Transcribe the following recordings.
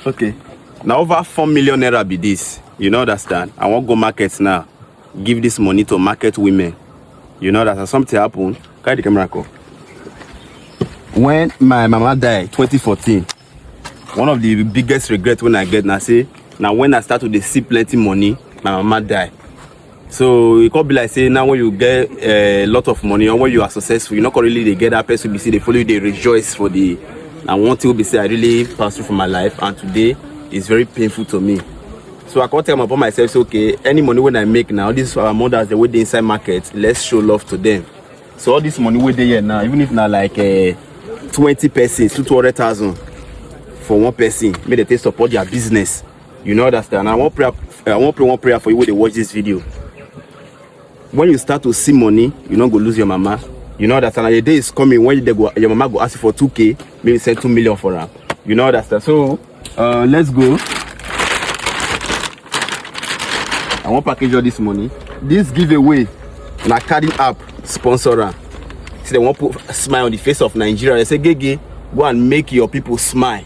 okay na over four million naira be this you no understand i wan go market now give this money to market women you know that something happen carry the camera come when my mama die 2014 one of the biggest regret when i get na say na when i start to dey see plenty money my mama die so e come be like say now when you get a eh, lot of money or when you are successful you no come really dey get that person be say dey follow you dey rejoice for the na one thing wey be say i really pass through for my life and today is very painful to me so i come tell my papa myself say okay any money wey i make now this our mothers dey wey dey inside market let's show love to them so all this money wey dey here now even if na like uh, twenty persons two two hundred thousand for one person make dem take support their business You know understand? I want prayer. I want pray one prayer for you when they watch this video. When you start to see money, you not go lose your mama. You know understand? And the day is coming when they go, your mama go ask you for 2k, maybe send 2 million for her. You know understand? So uh, let's go. I want package all this money. This giveaway, na carding app sponsor am. See, they want put a smile on the face of Nigeria. They say, Gege, go and make your people smile.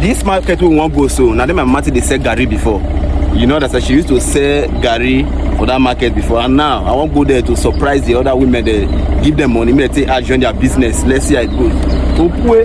This market we wan go so na dem my mama take dey sell garri before you know that she used to sell garri for that market before and now i wan go there to surprise the other women there give them money make they take add join their business let's see how it goes opue